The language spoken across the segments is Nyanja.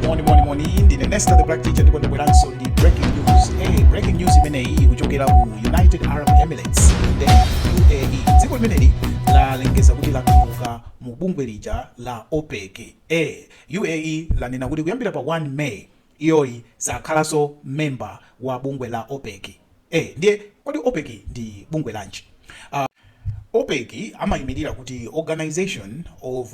moni moni moni ndine nesta the black teacher ndipo ndabweranso ndi breaking news hey, breaking news imeneyi kuchokera ku united arab emirates the uae dziko limeneli lalengeza kuti latuluka mu bungwe lija la opec hey, uae lanena kuti kuyambira pa 1 may iyoyi sakhalanso memba wa bungwe la opec hey, ndiye kodi opec ndi bungwe lanji uh, opec amayimirira kuti organization of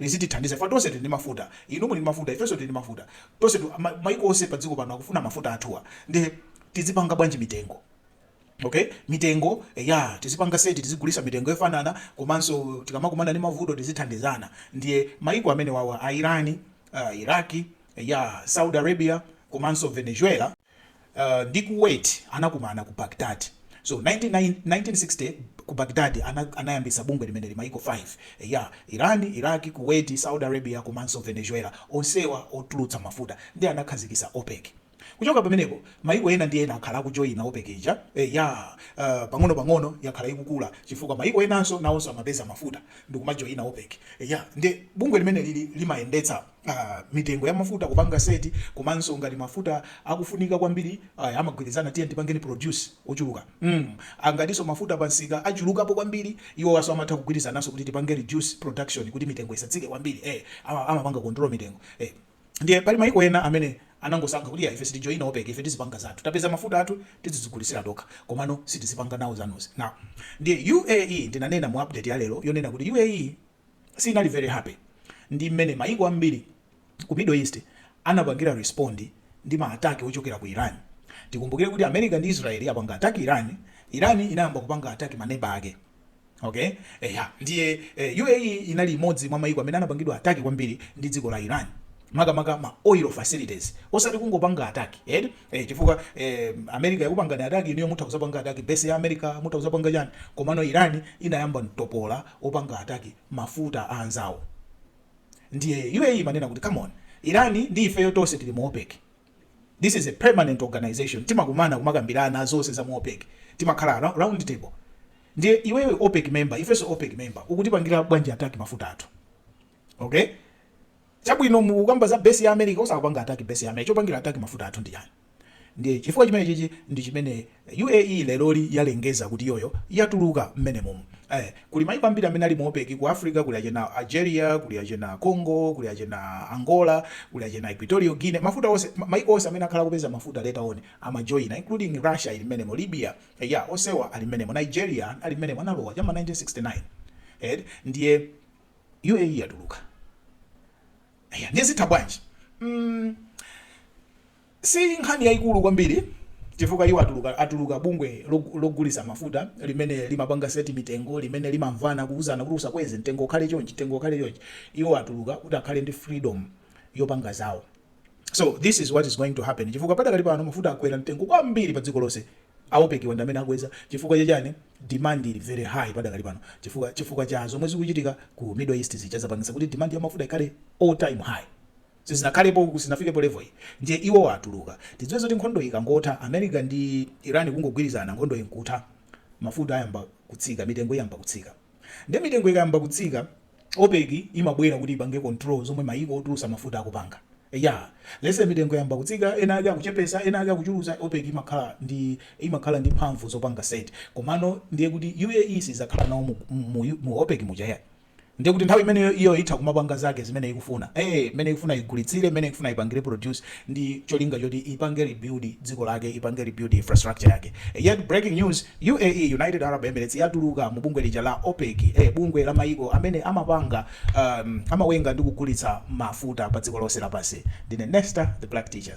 lizitithandiza chifukwa tonse tili ndi mafuta. Inu muli ndi mafuta, ifenso tili ndi mafuta. Tonsetu, ma, maiko onse padziko pano akufuna mafuta athuwa. Ndiye tizipanga bwanji mitengo? Okay, mitengo tizipanga seti tizigulisa mitengo yofanana komanso tikamakumana ndi mavuto tizithandizana. Ndiye maiko amene wawa a Iran, uh, Iraq, ya Saudi Arabia komanso Venezuela ndi Kuwait anakumana ku Baghdad. So, 1960 ku Baghdad anayambitsa bungwe limeneli maiko 5. Eya, Iran, Iraq, Kuwait, Saudi Arabia komanso Venezuela, onsewa otulutsa mafuta, ndiye anakhazikitsa OPEC. Kuchoka pamenepo, maiko ena ndi ena akhala akujoina OPEC ija. Eya, pang'onopang'ono yakhala ikukula chifukwa maiko enanso nawonso amapeza mafuta ndikumajoina OPEC. Eya, ndiye bungwe limenelili limayendetsa. mitengo ya mafuta kupanga set komanso ngati mafuta akufunika kwambiri aya amagwirizana tiyeni tipangeni produce ochuluka mm ngatinso mafuta pa msika achulukapo kwambiri iwowanso amatha kugwirizananso kuti tipange reduce production kuti mitengo isatsike kwambiri eh ama- amapanga control mitengo eh ndiye pali maiko ena amene anangosankha kuti ya ife sitijoyina opec ife tizipanga zathu tapeza mafuta athu tizigulisira tokha komano sitizipanga nawo zanuzi now ndiye uae ndinanena mu update ya lero yonena kuti uae sinali very happy ndi mmene mayiko ambiri ku Middle East anapangira respond ndi ma attack ochokera ku Iran. Tikumbukire kuti America ndi Israel atapanga attack Iran, Iran inayamba kupanga attack ma neba ake. Okay? Eya, ndiye eh, UAE inali imodzi mwa mayiko amene anapangidwa attack kwambiri ndi dziko la Iran. makamaka ma oil facilities osati kungopanga attack eti eh, chifukwa eh, America yakupangani attack inuyo mutha kuzapanga attack base ya America mutha kuzapanga chani komano Iran inayamba mtopola wopanga attack mafuta a anzawo ndiye UAE imanena kuti come on Iran ndi ifeyo tonse tili mu OPEC this is a permanent organization timakumana kumakambirana zonse za mu OPEC timakhala ra- round table ndiye iwewe OPEC member ifeso OPEC member ukutipangira bwanji attack mafuta athu okay Chabwino mukukamba za base ya America osapanga attack base ya America chopangira attack mafuta athu ndi chani ndiye chifukwa chimenechichi ndi chimene UAE leroli yalengeza kuti iyoyo yatuluka mmenemomu ee kuli maiko ambiri amene ali mu OPEC ku Africa kuli achina Algeria kuli achina Congo kuli achina Angola kuli achina Equatorial Guinea mafuta onse maiko onse amene akhala akupeza mafuta later on amajoina including Russia ili mmenemo Libya eya onsewa ali mmenemo Nigeria ali mmenemo analowa cha ma 1969 eti ndiye UAE yatuluka eya ndiye zitha bwanji mm si nkhani yaikulu kwambiri chifukwa iwo atuluka atuluka bungwe logulisa mafuta limene limapanga seti mitengo limene limamvana kuuzana kuti usakweze mtengo ukhale chonchi mtengo ukhale chonchi iwo atuluka kuti akhale ndi freedom yopanga zawo So this is what is going to happen chifukwa padakali pano mafuta akwera mtengo kwambiri pa dziko lonse a OPEC wa ndi amene akweza chifukwa chachani demand ili very high padakali pano chifukwa chifukwa cha zomwe zikuchitika ku middle east zija zapangisa kuti demand ya mafuta ikhale all time high sizinakhalepo sinafikepo level iyi ndiye iwo atuluka tidziwe zoti nkhondo ikangotha america ndi iran kungogwirizana nkhondo nkutha mafuta ayamba kutsika mitengo iyamba kutsika Nde mitengo ikayamba kutsika opec imabwera kuti ipange control zomwe mayiko otulutsa mafuta akupanga. Eya lese mitengo yayamba kutsika ena ake akuchepetsa ena ake akuchulutsa opec imakhala ndi imakhala ndi mphamvu zopanga set komano ndiye kuti uae sizakhala nawo mu mu mu opec muja ya ndiye kuti nthawi imeneyo iyo itha kumapanga zake zimene ikufuna ee mene ikufuna igulitsire mene ikufuna ipangire produce ndi cholinga choti ipange rebuild dziko lake ipange rebuild infrastructure yake. Eyatu breaking news. UAE, United Arab Emirates, yatuluka mu bungwe lija la OPEC, eh, bungwe la maiko amene amapanga, um, amayenga ndi kugulitsa mafuta pa dziko lonse lapansi. Ndine Nesta, the black teacher.